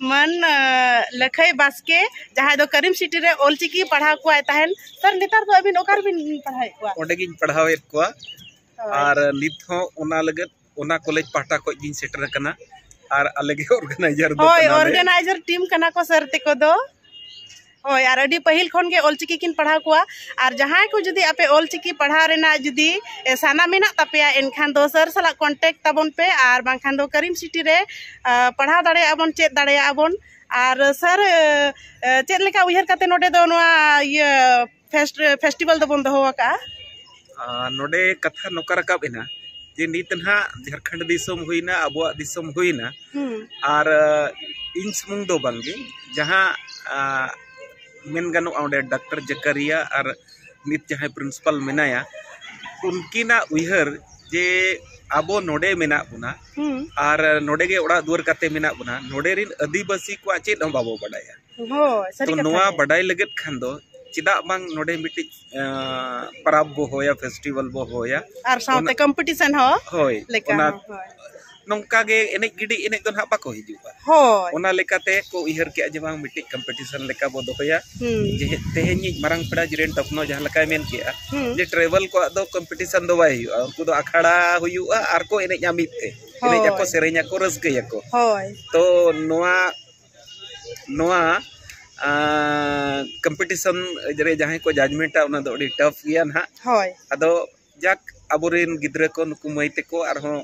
ᱢᱟᱱ ᱞᱟᱹᱠᱷᱟᱹᱭ ᱵᱟᱥᱠᱮ ᱡᱟᱦᱟᱸᱭ ᱫᱚ ᱠᱟᱨᱤᱢ ᱥᱤᱴᱤ ᱨᱮ ᱚᱞᱪᱤᱠᱤ ᱯᱟᱲᱦᱟᱣ ᱠᱚᱣᱟᱭ ᱛᱟᱦᱮᱱ ᱥᱟᱨ ᱱᱮᱛᱟᱨ ᱫᱚ ᱟᱹᱵᱤᱱ ᱚᱠᱟ ᱨᱮᱵᱤᱱ ᱯᱟᱲᱦᱟᱣᱮᱫ ᱠᱚᱣᱟ ᱚᱸᱰᱮ ᱜᱤᱧ ᱯᱟᱲᱦᱟᱣᱮᱫ ᱠᱚᱣᱟ ᱟᱨ ᱱᱤᱛ ᱦᱚᱸ ᱚᱱᱟ ᱞᱟᱹᱜᱤᱫ ᱚᱱᱟ ᱠᱚᱞᱮᱡᱽ ᱯᱟᱦᱴᱟ ᱠᱷᱚᱱ ᱜᱤᱧ ᱥᱮᱴᱮᱨ ᱟᱠᱟᱱᱟ ᱟᱨ ᱟᱞᱮ ᱜᱮ ᱚᱨᱜᱟᱱᱟᱭᱡᱟᱨ ᱫᱚ ᱦᱳᱭ ᱚᱨᱜᱟᱱᱟᱭᱡᱟᱨ ᱴᱤᱢ ᱠᱟᱱᱟ ᱠᱚ ᱥᱟᱨ ᱛᱮᱠᱚ ᱫᱚ ᱦᱳᱭ ᱟᱨ ᱟᱹᱰᱤ ᱯᱟᱹᱦᱤᱞ ᱠᱷᱚᱱ ᱜᱮ ᱚᱞᱪᱤᱠᱤ ᱠᱤᱱ ᱯᱟᱲᱦᱟᱣ ᱠᱚᱣᱟ ᱟᱨ ᱡᱟᱦᱟᱸᱭ ᱠᱚ ᱡᱩᱫᱤ ᱟᱯᱮ ᱚᱞᱪᱤᱠᱤ ᱯᱟᱲᱦᱟᱣ ᱨᱮᱱᱟᱜ ᱡᱩᱫᱤ ᱥᱟᱱᱟ ᱢᱮᱱᱟᱜ ᱛᱟᱯᱮᱭᱟ ᱮᱱᱠᱷᱟᱱ ᱫᱚ ᱥᱟᱨ ᱥᱟᱞᱟᱜ ᱠᱚᱱᱴᱮᱠᱴ ᱛᱟᱵᱚᱱ ᱯᱮ ᱟᱨ ᱵᱟᱝᱠᱷᱟᱱ ᱫᱚ ᱠᱟᱨᱤᱢ ᱥᱤᱴᱤ ᱨᱮ ᱯᱟᱲᱦᱟᱣ ᱫᱟᱲᱮᱭᱟᱜᱼᱟ ᱵᱚᱱ ᱪᱮᱫ ᱫᱟᱲᱮᱭᱟᱜᱼᱟ ᱵᱚᱱ ᱟᱨ ᱥᱟᱨ ᱪᱮᱫ ᱞᱮᱠᱟ ᱩᱭᱦᱟᱹᱨ ᱠᱟᱛᱮᱫ ᱱᱚᱰᱮ ᱫᱚ ᱱᱚᱣᱟ ᱤᱭᱟᱹ ᱯᱷᱮᱥᱴᱤᱵᱷᱮᱞ ᱫᱚᱵᱚᱱ ᱫᱚᱦᱚ ᱟᱠᱟᱫᱼᱟ ᱱᱚᱰᱮ ᱠᱟᱛᱷᱟ ᱱᱚᱝᱠᱟ ᱨᱟᱠᱟᱵ ᱮᱱᱟ ᱡᱮ ᱱᱤᱛ ᱱᱟᱦᱟᱜ ᱡᱷᱟᱲᱠᱷᱚᱸᱰ ᱫᱤᱥᱚᱢ ᱦᱩᱭᱱᱟ ᱟᱵᱚᱣᱟᱜ ᱫᱤᱥᱚᱢ ᱦᱩᱭᱱᱟ ᱟᱨ ᱤᱧ ᱥᱩᱢᱩᱝ ᱫᱚ ᱵᱟᱝᱜᱮ ᱡᱟᱦᱟᱸ ᱢᱮᱱ ᱜᱟᱱᱚᱜᱼᱟ ᱚᱸᱰᱮ ᱰᱟᱠᱛᱟᱨ ᱡᱟᱠᱟᱨᱤᱭᱟ ᱟᱨ ᱱᱤᱛ ᱡᱟᱦᱟᱸᱭ ᱯᱨᱤᱱᱥᱤᱯᱟᱞ ᱢᱮᱱᱟᱭᱟ ᱩᱱᱠᱤᱱᱟᱜ ᱩᱭᱦᱟᱹᱨ ᱡᱮ ᱟᱵᱚ ᱱᱚᱰᱮ ᱢᱮᱱᱟᱜ ᱵᱚᱱᱟ ᱟᱨ ᱱᱚᱰᱮ ᱜᱮ ᱚᱲᱟᱜ ᱫᱩᱣᱟᱹᱨ ᱠᱟᱛᱮ ᱢᱮᱱᱟᱜ ᱵᱚᱱᱟ ᱱᱚᱰᱮ ᱨᱤᱱ ᱟᱹᱫᱤᱵᱟᱹᱥᱤ ᱠᱚᱣᱟᱜ ᱪᱮᱫ ᱦᱚᱸ ᱵᱟᱵᱚ ᱵᱟᱰᱟᱭᱟ ᱛᱚ ᱱᱚᱣᱟ ᱵᱟᱰᱟᱭ ᱞᱟᱹᱜᱤᱫ ᱠᱷᱟᱱ ᱫᱚ ᱪᱮᱫᱟᱜ ᱵᱟᱝ ᱱᱚᱰᱮ ᱢᱤᱫᱴᱤᱡ ᱯᱟᱨᱟᱵᱽ ᱵᱚ ᱦᱚᱭᱟ ᱯᱷᱮᱥᱴᱤᱵᱷᱟᱞ ᱵᱚ ᱦᱚᱭᱟ ᱟᱨ ᱥᱟᱶᱛᱮ ᱠᱚᱢᱯᱤᱴᱤᱥᱚᱱ ᱦᱚᱸ ᱦᱳᱭ ᱞᱮᱠᱟ ᱱᱚᱝᱠᱟ ᱜᱮ ᱮᱱᱮᱡ ᱜᱤᱰᱤ ᱮᱱᱮᱡ ᱫᱚ ᱱᱟᱦᱟᱜ ᱵᱟᱠᱚ ᱦᱤᱡᱩᱜᱼᱟ ᱦᱳᱭ ᱚᱱᱟ ᱞᱮᱠᱟᱛᱮ ᱠᱚ ᱩᱭᱦᱟᱹᱨ ᱠᱮᱜᱼᱟ ᱡᱮ ᱵᱟᱝ ᱢᱤᱫᱴᱤᱡ ᱠᱚᱢᱯᱤᱴᱤᱥᱚᱱ ᱞᱮᱠᱟ ᱵᱚ ᱫᱚᱦᱚᱭᱟ ᱡᱮ ᱛᱮᱦᱮᱧ ᱤᱡ ᱢᱟᱨᱟᱝ ᱯᱮᱲᱟ ᱡᱤᱨᱮᱱ ᱴᱚᱯᱱᱚ ᱡᱟᱦᱟᱸ ᱞᱮᱠᱟᱭ ᱢᱮᱱ ᱠᱮᱜᱼᱟ ᱡᱮ ᱴᱨᱟᱭᱵᱟᱞ ᱠᱚᱣᱟᱜ ᱫᱚ ᱠᱚᱢᱯᱤᱴᱤᱥᱚᱱ ᱫᱚ ᱵᱟᱭ ᱦᱩᱭᱩᱜᱼᱟ ᱩᱱᱠᱩ ᱫᱚ ᱟᱠᱷᱲᱟ ᱦᱩᱭᱩᱜᱼᱟ ᱟᱨ ᱠᱚ ᱮᱱᱮᱡᱼᱟ ᱢᱤᱫ ᱛᱮ ᱮᱱᱮᱡ ᱟᱠᱚ ᱥᱮᱨᱮᱧ ᱟᱠᱚ ᱨᱟᱹᱥᱠᱟᱹᱭᱟᱠᱚ ᱦᱳᱭ ᱛᱚ ᱱᱚᱣᱟ ᱱᱚᱣᱟ ᱠᱚᱢᱯᱤᱴᱤᱥᱚᱱ ᱨᱮ ᱡᱟᱦᱟᱸᱭ ᱠᱚ ᱡᱟᱡᱽᱢᱮᱱᱴᱟ ᱚᱱᱟ ᱫᱚ ᱟᱹᱰᱤ ᱴᱟᱯᱷ ᱜᱮᱭᱟ ᱱᱟᱦᱟᱜ ᱦᱳᱭ ᱟᱫᱚ ᱡᱟᱠ ᱟᱵᱚᱨᱮᱱ ᱜᱤᱫᱽᱨᱟᱹ ᱠᱚ ᱱᱩᱠᱩ ᱢᱟᱹᱭ ᱛᱮᱠᱚ ᱟᱨᱦᱚᱸ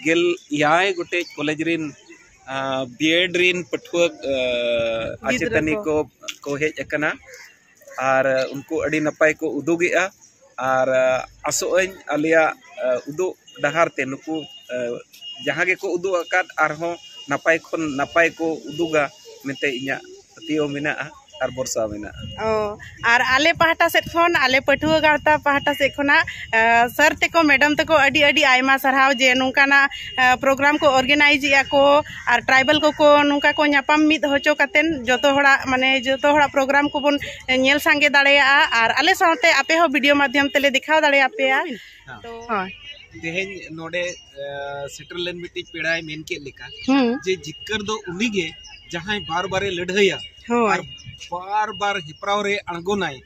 ᱜᱮᱞ ᱮᱭᱟᱭ ᱜᱚᱴᱮᱡ ᱠᱚᱞᱮᱡᱽ ᱨᱮᱱ ᱵᱤᱭᱮᱰ ᱨᱮᱱ ᱯᱟᱹᱴᱷᱩᱣᱟᱹ ᱟᱪᱮᱛᱟᱹᱱᱤ ᱠᱚ ᱠᱚ ᱦᱮᱡ ᱟᱠᱟᱱᱟ ᱟᱨ ᱩᱱᱠᱩ ᱟᱹᱰᱤ ᱱᱟᱯᱟᱭ ᱠᱚ ᱩᱫᱩᱜᱮᱜᱼᱟ ᱟᱨ ᱟᱥᱚᱜ ᱟᱹᱧ ᱟᱞᱮᱭᱟᱜ ᱩᱫᱩᱜ ᱰᱟᱦᱟᱨ ᱛᱮ ᱱᱩᱠᱩ ᱡᱟᱦᱟᱸ ᱜᱮᱠᱚ ᱩᱫᱩᱜ ᱟᱠᱟᱫ ᱟᱨᱦᱚᱸ ᱱᱟᱯᱟᱭ ᱠᱷᱚᱱ ᱱᱟᱯᱟᱭ ᱠᱚ ᱩᱫᱩᱜᱟ ᱢᱮᱱᱛᱮ ᱤᱧᱟᱹᱜ ᱯᱟᱹᱛᱭᱟᱹᱣ ᱢᱮᱱᱟᱜᱼᱟ ᱟᱨ ᱵᱷᱚᱨᱥᱟ ᱢᱮᱱᱟᱜᱼᱟ ᱚ ᱟᱨ ᱟᱞᱮ ᱯᱟᱦᱴᱟ ᱥᱮᱫ ᱠᱷᱚᱱ ᱟᱞᱮ ᱯᱟᱹᱴᱷᱩᱣᱟᱹ ᱜᱟᱶᱛᱟ ᱯᱟᱦᱴᱟ ᱥᱮᱫ ᱠᱷᱚᱱᱟᱜ ᱥᱟᱨ ᱛᱮᱠᱚ ᱢᱮᱰᱟᱢ ᱛᱮᱠᱚ ᱟᱹᱰᱤ ᱟᱹᱰᱤ ᱟᱭᱢᱟ ᱥᱟᱨᱦᱟᱣ ᱡᱮ ᱱᱚᱝᱠᱟᱱᱟᱜ ᱯᱨᱳᱜᱨᱟᱢ ᱠᱚ ᱚᱨᱜᱟᱱᱟᱭᱤᱡᱮᱜᱼᱟ ᱠᱚ ᱟᱨ ᱴᱨᱟᱭᱵᱮᱞ ᱠᱚᱠᱚ ᱱᱚᱝᱠᱟ ᱠᱚ ᱧᱟᱯᱟᱢ ᱢᱤᱫ ᱦᱚᱪᱚ ᱠᱟᱛᱮ ᱡᱚᱛᱚ ᱦᱚᱲᱟᱜ ᱢᱟᱱᱮ ᱡᱚᱛᱚ ᱦᱚᱲᱟᱜ ᱯᱨᱳᱜᱨᱟᱢ ᱠᱚᱵᱚᱱ ᱧᱮᱞ ᱥᱟᱸᱜᱮ ᱫᱟᱲᱮᱭᱟᱜᱼᱟ ᱟᱨ ᱟᱞᱮ ᱥᱟᱶᱛᱮ ᱟᱯᱮ ᱦᱚᱸ ᱵᱷᱤᱰᱤᱭᱳ ᱢᱟᱫᱽᱫᱷᱚᱢ ᱛᱮᱞᱮ ᱫᱮᱠᱷᱟᱣ ᱫᱟᱲᱮ ᱟᱯᱮᱭᱟ ᱛᱚ ᱦᱳᱭ ᱛᱮᱦᱮᱧ ᱱᱚᱰᱮ ᱥᱮᱴᱮᱨ ᱞᱮᱱ ᱢᱤᱫᱴᱤᱡ ᱯᱮᱲᱟᱭ ᱢᱮᱱ ᱠᱮᱫ ᱞᱮᱠᱟ ᱡᱮ ᱡᱤᱛᱠᱟᱹᱨ ᱫᱚ ᱩᱱᱤᱜᱮ ᱡᱟᱦᱟᱸᱭ ᱵᱟᱨ ᱵᱟᱨᱮ ᱞᱟᱹᱰᱷᱟᱹᱭᱟ ᱟᱨ ᱵᱟᱨ ᱵᱟᱨ ᱦᱮᱯᱨᱟᱣ ᱨᱮ ᱟᱬᱜᱚᱱᱟᱭ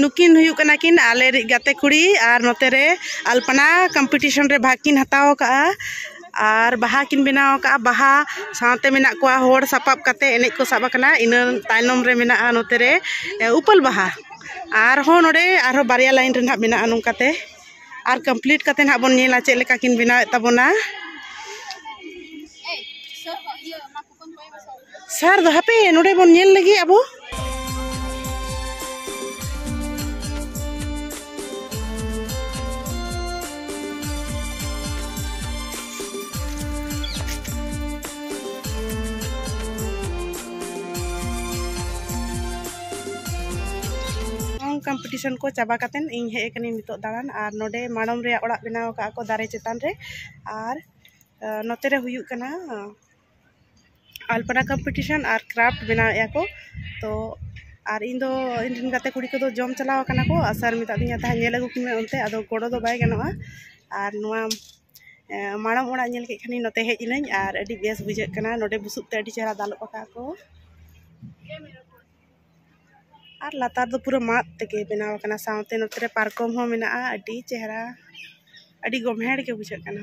ᱱᱩᱠᱤᱱ ᱦᱩᱭᱩᱜ ᱠᱟᱱᱟ ᱠᱤᱱ ᱟᱞᱮ ᱨᱤᱡ ᱜᱟᱛᱮ ᱠᱩᱲᱤ ᱟᱨ ᱱᱚᱛᱮ ᱨᱮ ᱟᱞᱯᱚᱱᱟ ᱠᱚᱢᱯᱤᱴᱤᱥᱚᱱ ᱨᱮ ᱵᱷᱟᱜᱽ ᱠᱤᱱ ᱦᱟᱛᱟᱣ ᱟᱠᱟᱫᱼᱟ ᱟᱨ ᱵᱟᱦᱟ ᱠᱤᱱ ᱵᱮᱱᱟᱣ ᱟᱠᱟᱫᱼᱟ ᱵᱟᱦᱟ ᱥᱟᱶᱛᱮ ᱢᱮᱱᱟᱜ ᱠᱚᱣᱟ ᱦᱚᱲ ᱥᱟᱯᱟᱵ ᱠᱟᱛᱮᱫ ᱮᱱᱮᱡ ᱠᱚ ᱥᱟᱵ ᱟᱠᱟᱱᱟ ᱤᱱᱟᱹ ᱛᱟᱭᱱᱚᱢ ᱨᱮ ᱢᱮᱱᱟᱜᱼᱟ ᱱᱚᱛᱮ ᱨᱮ ᱩᱯᱟᱹᱞ ᱵᱟᱦᱟ ᱟᱨᱦᱚᱸ ᱱᱚᱰᱮ ᱟᱨᱦᱚᱸ ᱵᱟᱨᱭᱟ ᱞᱟᱭᱤᱱ ᱨᱮ ᱦᱟᱸᱜ ᱢᱮᱱᱟᱜᱼᱟ ᱱᱚᱝᱠᱟᱛᱮ ᱟᱨ ᱠᱚᱢᱯᱞᱤᱴ ᱠᱟᱛᱮᱫ ᱦᱟᱸᱜ ᱵᱚᱱ ᱧᱮᱞᱟ ᱪᱮᱫ ᱞᱮᱠᱟ ᱠᱤᱱ ᱵᱮᱱᱟᱣᱮᱫ ᱛᱟᱵᱚᱱᱟ ᱥᱟᱨ ᱫᱚ ᱦᱟᱯᱮ ᱱᱚᱰᱮ ᱵᱚᱱ ᱧᱮᱞ ᱞᱮᱜᱮ ᱟᱵᱚ ᱠᱚᱢᱯᱤᱴᱤᱥᱚᱱ ᱠᱚ ᱪᱟᱵᱟ ᱠᱟᱛᱮᱱ ᱤᱧ ᱦᱮᱡ ᱟᱠᱟᱱᱟᱹᱧ ᱱᱤᱛᱚᱜ ᱫᱟᱬᱟᱱ ᱟᱨ ᱱᱚᱰᱮ ᱢᱟᱲᱚᱢ ᱨᱮᱭᱟᱜ ᱚᱲᱟᱜ ᱵᱮᱱᱟᱣ ᱟᱠᱟᱫ ᱠᱚ ᱫᱟᱨᱮ ᱪᱮᱛᱟᱱ ᱨᱮ ᱟᱨ ᱱᱚᱛᱮ ᱨᱮ ᱦᱩᱭᱩᱜ ᱠᱟᱱᱟ ᱟᱞᱯᱚᱱᱟ ᱠᱚᱢᱯᱤᱴᱤᱥᱚᱱ ᱟᱨ ᱠᱨᱟᱯᱷᱴ ᱵᱮᱱᱟᱣᱮᱜᱼᱟ ᱠᱚ ᱛᱚ ᱟᱨ ᱤᱧ ᱫᱚ ᱤᱧ ᱨᱮᱱ ᱜᱟᱛᱮ ᱠᱩᱲᱤ ᱠᱚᱫᱚ ᱡᱚᱢ ᱪᱟᱞᱟᱣ ᱠᱟᱱᱟ ᱠᱚ ᱟᱨ ᱥᱟᱨ ᱢᱮᱛᱟᱜ ᱫᱤᱧᱟᱭ ᱛᱟᱦᱮᱸᱫ ᱧᱮᱞ ᱟᱹᱜᱩ ᱠᱚ ᱢᱮ ᱚᱱᱛᱮ ᱟᱫᱚ ᱜᱚᱲᱚ ᱫᱚ ᱵᱟᱭ ᱜᱟᱱᱚᱜᱼᱟ ᱟᱨ ᱱᱚᱣᱟ ᱢᱟᱲᱟᱝ ᱚᱲᱟᱜ ᱧᱮᱞ ᱠᱮᱫ ᱠᱷᱟᱱᱤᱧ ᱱᱚᱛᱮ ᱦᱮᱡ ᱮᱱᱟᱹᱧ ᱟᱨ ᱟᱹᱰᱤ ᱵᱮᱥ ᱵᱩᱡᱷᱟᱹᱜ ᱠᱟᱱᱟ ᱱᱚᱰᱮ ᱵᱩᱥᱩᱵ ᱛᱮ ᱟᱹᱰᱤ ᱪᱮᱦᱨᱟ ᱫᱟᱞᱚᱵ ᱟᱠᱟᱫ ᱟᱠᱚ ᱟᱨ ᱞᱟᱛᱟᱨ ᱫᱚ ᱯᱩᱨᱟᱹ ᱢᱟᱫ ᱛᱮᱜᱮ ᱵᱮᱱᱟᱣ ᱟᱠᱟᱱᱟ ᱥᱟᱶᱛᱮ ᱱᱚᱛᱮ ᱨᱮ ᱯᱟᱨᱠᱚᱢ ᱦᱚᱸ ᱢᱮᱱᱟᱜᱼᱟ ᱟᱹᱰᱤ ᱪᱮᱦᱨᱟ ᱟᱹᱰᱤ ᱜᱚᱢᱦᱮᱲ ᱜᱮ ᱵᱩᱡᱷᱟᱹᱜ ᱠᱟᱱᱟ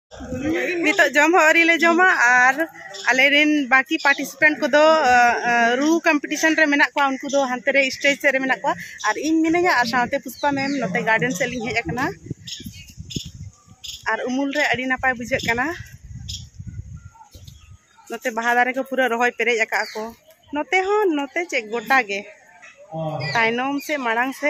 ᱱᱤᱛᱚᱜ ᱡᱚᱢ ᱦᱚᱸ ᱟᱹᱣᱨᱤ ᱞᱮ ᱡᱚᱢᱟ ᱟᱨ ᱟᱞᱮ ᱨᱮᱱ ᱵᱟᱹᱠᱤ ᱯᱟᱨᱴᱤᱥᱤᱯᱮᱱᱴ ᱠᱚᱫᱚ ᱨᱩ ᱠᱚᱢᱯᱤᱴᱤᱥᱚᱱ ᱨᱮ ᱢᱮᱱᱟᱜ ᱠᱚᱣᱟ ᱩᱱᱠᱩ ᱫᱚ ᱦᱟᱱᱛᱮ ᱨᱮ ᱥᱴᱮᱡᱽ ᱥᱮᱫ ᱨᱮ ᱢᱮᱱᱟᱜ ᱠᱚᱣᱟ ᱟᱨ ᱤᱧ ᱢᱤᱱᱟᱹᱧᱟ ᱟᱨ ᱥᱟᱶᱛᱮ ᱯᱩᱥᱯᱟ ᱢᱮᱢ ᱱᱚᱛᱮ ᱜᱟᱨᱰᱮᱱ ᱥᱮᱫ ᱞᱤᱧ ᱦᱮᱡ ᱟᱠᱟᱱᱟ ᱟᱨ ᱩᱢᱩᱞ ᱨᱮ ᱟᱹᱰᱤ ᱱᱟᱯᱟᱭ ᱵᱩᱡᱷᱟᱹᱜ ᱠᱟᱱᱟ ᱱᱚᱛᱮ ᱵᱟᱦᱟ ᱫᱟᱨᱮ ᱠᱚ ᱯᱩᱨᱟᱹ ᱨᱚᱦᱚᱭ ᱯᱮᱨᱮᱡ ᱟᱠᱟᱫ ᱠᱚ ᱱᱚᱛᱮ ᱦᱚᱸ ᱱᱚᱛᱮ ᱪᱮᱫ ᱜᱚᱴᱟ ᱜᱮ ᱛᱟᱭᱱᱚᱢ ᱥᱮ ᱢᱟᱲᱟᱝ ᱥᱮ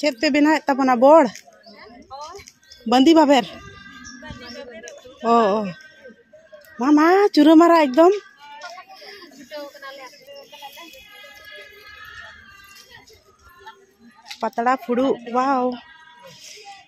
ᱪᱮᱫ ᱯᱮ ᱵᱮᱱᱟᱣᱮᱫ ᱛᱟᱵᱚᱱᱟ ᱵᱚᱲ ᱵᱟᱸᱫᱤ ᱵᱟᱵᱮᱨ ᱚ ᱚ ᱢᱟ ᱢᱟ ᱪᱩᱨᱟᱹ ᱢᱟᱨᱟ ᱮᱠᱫᱚᱢ ᱯᱟᱛᱲᱟ ᱯᱷᱩᱲᱩᱜ ᱵᱟᱣ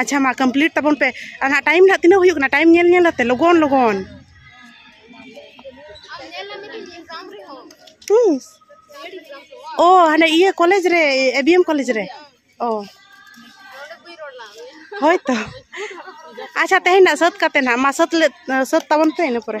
ᱟᱪᱪᱷᱟ ᱢᱟ ᱠᱚᱢᱯᱞᱤᱴ ᱛᱟᱵᱚᱱ ᱯᱮ ᱟᱨ ᱦᱟᱸᱜ ᱴᱟᱭᱤᱢ ᱦᱟᱸᱜ ᱛᱤᱱᱟᱹᱜ ᱦᱩᱭᱩᱜ ᱠᱟᱱᱟ ᱴᱟᱭᱤᱢ ᱧᱮᱞ ᱧᱮᱞ ᱟᱛᱮ ᱞᱚᱜᱚᱱ ᱞᱚᱜᱚᱱ ᱛᱤᱥ ᱚ ᱦᱟᱱᱮ ᱤᱭᱟᱹ ᱠᱚᱞᱮᱡᱽ ᱨᱮ ᱮ ᱵᱤ ᱮᱢ ᱠᱚᱞᱮᱡᱽ ᱨᱮ ᱚ ᱦᱳᱭ ᱛᱚ ᱟᱪᱪᱷᱟ ᱛᱮᱦᱮᱧ ᱱᱟᱜ ᱥᱟᱹᱛ ᱠᱟᱛᱮ ᱱᱟᱜ ᱢᱟ ᱥᱟᱹᱛ ᱞᱮ ᱥᱟᱹᱛ ᱛᱟᱵᱚᱱ ᱯᱮ ᱤᱱᱟᱹ ᱯᱚᱨᱮ